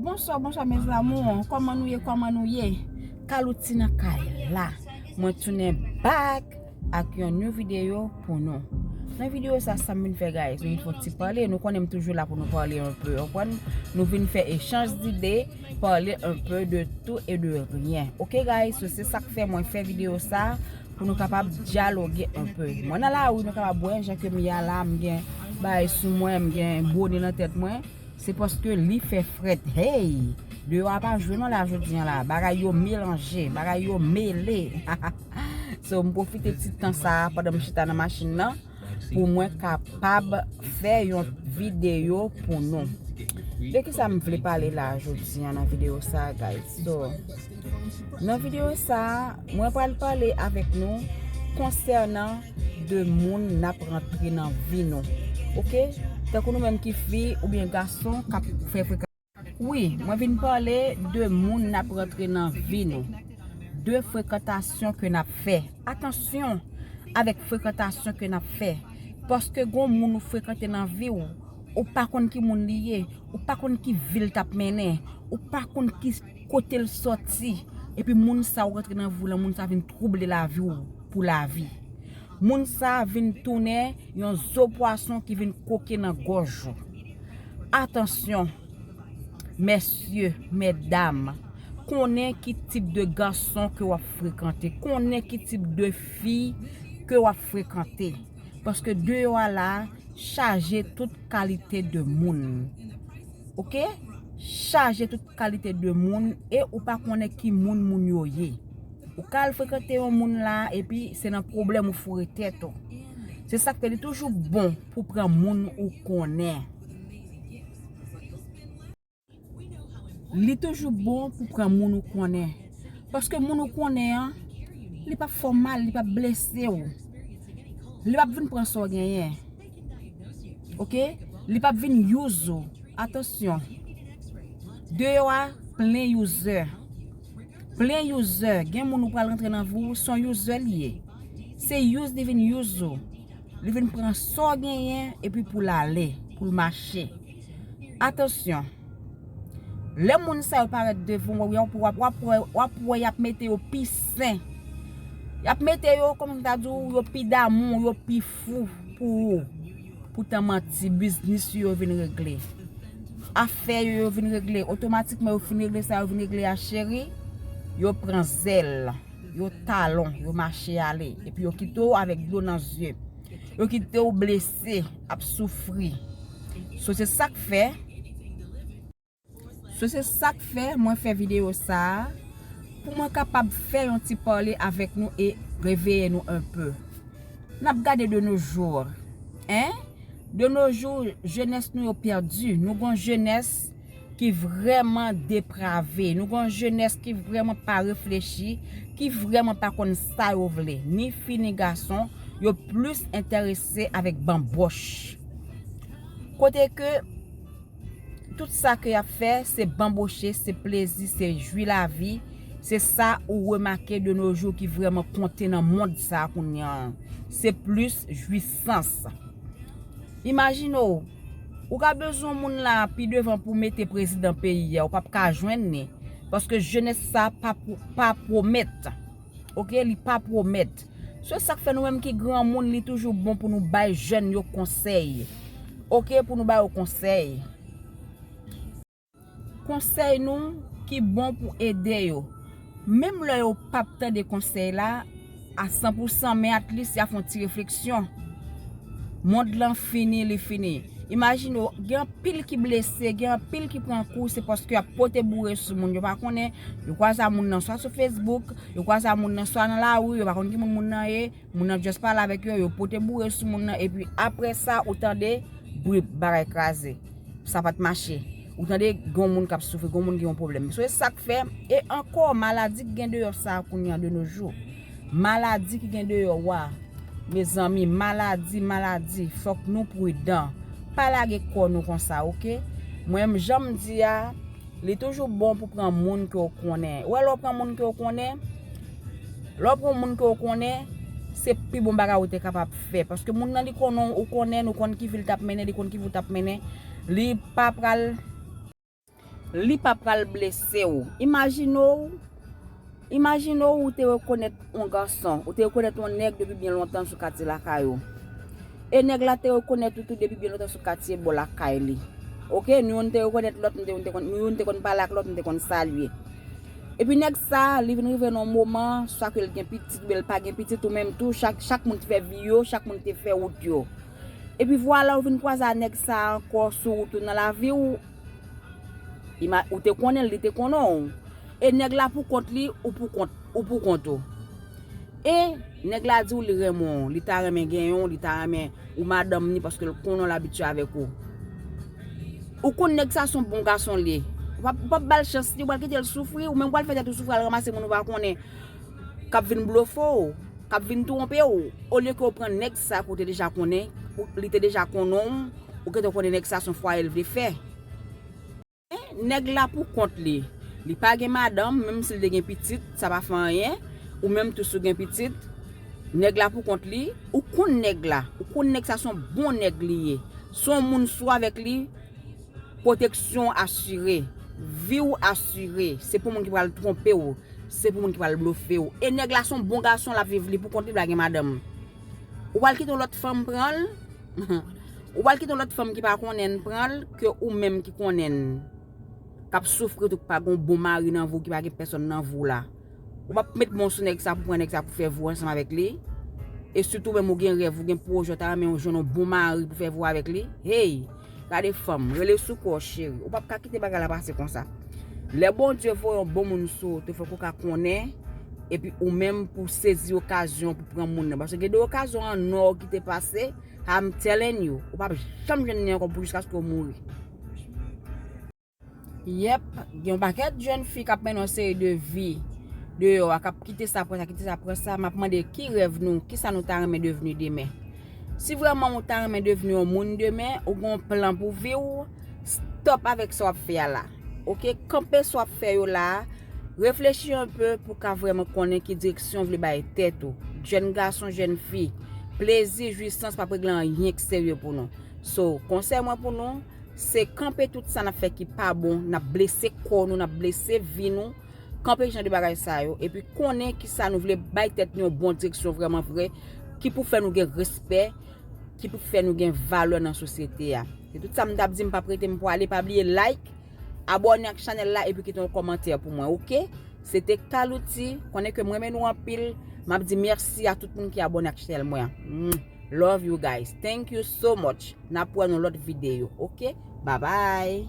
Bonswa bonswa mes amours koman nou ye koman nou ye Calouty nan kay la mwen tounen back ak yon new video pou nou nan video sa sam vin fè guys mwen fon ti pale nou konnen m toujou la pou nou pale yon peu anpwen nou vin fè echanj dide pale yon peu de tou e de ryen ok guys sou se sak fè mwen fè video sa pou nou kapab dyaloge yon peu mwen nan la ou nou kapab wè jan ke m ya la m gen bay sou mwen m gen boni nan tèt mwen. Se paske li fè frèt heyy. Deyò a pa jwe non la jodi an la bagay yo melanje bagay yo mele so m pwofite ti tan sa pandan m chita nan machin nan pou mwen kapab fè yon videyo pou nou de kisa m vle pale la jodi an nan videyo sa guys so. Nan video sa a, mwen pral pale avèk nou konsènan 2 moun nap rantre nan vi nou ok tankou nou menm ki fi oubyen gason kap fè frekan wi mwen vin pale 2 moun nap rantre nan vi nou 2 frekantasyon ke nap fè atansyon avèk frekantasyon ke nap fè paske gon moun ou frekante nan vi ou ou pa konn ki moun li ye ou pa konn ki vil tap mennen ou pa konn ki. Kotel soti epi moun sa ou rantre nan vi w lan moun sa vin trouble lavi w pou lavi moun sa vin tounen yon zo pwason ki vin koke nan gòj ou atansyon mesye medam konnen ki tip de gason ke wap frekante konnen ki tip de fi ke wap frekante paske deyò a la chaje tout kalite de moun. Ok chaje tout kalite de moun e ou pa konnen ki moun moun yo ye ou ka al frekante yon moun la epi se nan pwoblèm ou foure tèt ou se sak fè li toujou bon pou pran moun ou konnen li toujou bon pou pran moun ou konnen paske moun ou konnen an li pap fè w mal li pap blese w li pap vin pran sa w genyen Ok li pap vin use ou atansyon deyò a plen user plen user gen moun ou pral rantre nan vi w son user li ye se use li vin use ou li vin pran sa w genyen epi pou l ale pou l mache atansyon lè moun sa yo parèt devan w wap wè y ap mete yo pi sen y ap mete yo kòm m ta di w yo pi damou yo pi fou pou ou pou tan manti biznis ou yo vin regle afè yo yo vin regle otomatikman yo fin regle sa yo vin regle a cheri yo pran zèl yo talon yo mache ale epi yo kite ou avèk dlo nan zye yo kite ou blese ap soufri sou se sak fè So se sak fè mwen fè video sa a, pou mwen kapab fè yon ti pale avèk nou e reveye nou un peu. Nap gade de nos jours hein, de nos jours jenès nou yo pèdi, nou gon jenès ki vrèman deprave, nou gon jenès ki vrèman pa reflechi, ki vrèman pa konn sa yo vle, ni fi ni gason, yo plis entèrese avèk banboch. Kote ke. Tout sa ke yap fè se banboche, se plezi, se jwi lavi, se sa ou remake de no jou ki vreman konte nan mond sa kounya an. Se plis jwisans. Imajine w, ou ka bezwen moun la pi devan pou mete prezidan peyi a, ou pap ka jwenn li, paske jenès sa pa pwomèt. Ok li pa pwomèt. Se sak fè nou menm ki granmoun li toujou bon pou nou bay jèn yo konsèy ok pou nou ba yo konsèy. Konsèy nou ki bon pou ede yo. Menm lè yo pap tande konsèy la a san pou san men at lis ya fon ti refleksyon. Mond lan fini li fini. Imajine w, gen anpil ki blese, gen anpil ki pran kou, se paske ap pote boure sou moun. Yo pa konnen, yo kwaze a moun nan swa sou Facebook, yo kwaze a moun nan swa nan lari, yo pa konnen ki moun moun nan ye, moun nan just pale avèk yo, yo pote boure sou moun nan, epi apre sa, ou tande, brip, bagay kraze. Sa pat mache. Ou tande, gon moun kap soufri, gon moun gen yon pwoblèm. Se sak fè, e ankò, maladi ki gen deyò sa kounye an de no jou. Maladi ki gen deyò wa. Mezanmi maladi maladi fòk nou prudan pa lage kò nou konsa ok mwen m janm di a li toujou bon pou pran moun ke w konnen wè lè w pran moun ke w konnen lè w pran moun ke w konnen se pi bon bagay ou te kapab fè paske moun nan li konnen w ou konnen l ou konn ki vi l tap mennen li konn ki vi w tap mennen li pa pral. Li pa pral blese ou. Imajine w Imajine w ou te rekonèt yon gason, ou te rekonèt yon nèg depi byen lontan sou katye lakay ou. E nèg la te rekonèt ou tou depi byen lontan sou katye bò lakay li. Ok, nou youn te rekonèt lòt, nou youn te konn pale ak lòt, nou te konn salye. Epi nèg sa, li vin rive nan yon moman, swa ke l gen pitit oubyen l pa gen pitit, ou menm tou, chak moun te fè vi yo, chak moun te fè wout yo. Epi vwala ou vin kwaze a nèg sa a ankò sou wout ou nan lavi w, ou te konnen l, li te konnen w, e nèg la pou kont li, ou pou kont, ou pou kont ou. E, nèg la di w li renmen w, li ta renmen genyen w, li ta renmen ou madanm ni paske l konnen w, l abitye avèk ou. Ou konn nèg sa a s on bon gason l ye, ou pa, ou pa p ba l chans li, ou pral kite l soufri, ou menm ou pral fè tèt ou soufri al ranmase moun ou pa konnen k ap vin blofe w, k ap vin twonpe w, olye ke ou pran nèg. Sa ke w te deja konnen, li te deja konnen w, ou gentan konnen nèg sa son fwaye l vle fè. Men, nèg la pou kont li. Li pa gen madanm, menm si l te gen pitit, sa pa fè anyen. Ou menm tou si w gen pitit, nèg la pou kont li, ou konn nèg la, ou konn nèg sa son bon nèg li ye. Son moun sou avèk li. Pwoteksyon w asire. Vi w asire. Se pou moun ki pral twonpe w. Se pou moun ki pral blofe w. E nèg la se yon bon gason l ap viv li pou kont li pa gen madanm. Ou pral kite yon lòt fanm pran l? Ou pral kite yon lòt fanm ki pa konnen l pran l ke ou menm ki konnen l k ap soufri tou ki pa gen yon bon mari nan vi w ki pa gen pèsòn nan vi w la? Ou pap met bon sou nèg sa pou pran nèg sa pou fè vwa ansanm avèk li. E sitou menm ou gen rèv, ou gen pwojè ou ta renmen jwenn yon bon mari pou fè vwa avèk li. Hey! Gade fanm, rele sou kò w cheri. Ou pap ka kite bagay la pase konsa. Lè Bondye voye yon bon moun sou ou tou fòk ou ka konnen epi ou menm pou w sezi okazyon pou pran moun nan. Paske gen de okazyon an nò ki te pase, I'm telling you, ou pap janm jwenn li ankò pou jiskaske ou mouri. Yep, gen yon pakèt jèn fi kap mennen yon seri de vi deyò a, kap kite sa pran sa, kite sa pran sa, map mande ki rèv nou, kisa nou ta renmen devni demen. Si vrèman ou ta renmen devni yon moun demen, ou gen yon plan pou vi ou, stop avèk sa wap fè a la. Ok, kanpe sa wap fè yo la a, reflechi yon pe pou ka vrèman konnen ki direksyon ou vle bay tèt ou. Jèn gason, jèn fi, plezi, jwisans pap regle anyen ki serye pou nou. So, konsèy mwen pou nou, Se kanpe tout sa nap fè ki pa bon, nap blese kò nou, nap blese vi nou, kanpe jan de bagay sa yo, epi konnen ki sa nou vle, bay tèt nou yon bon direksyon vrèman vre, ki pou fè nou gen respè, ki pou fè nou gen valè nan sosyete a. Se tout sa m tap di, m pap rete m pwale, pa bliye like, abòne ak chanèl la epi kite yon kòmantè pou mwen ok. Se te Calouty, konnen ke m renmen nou anpil, map di mèsi a tout moun ki abòne ak chanèl mwen an. Love you guys thank you so much nap wè nou lòt video ok ba bay.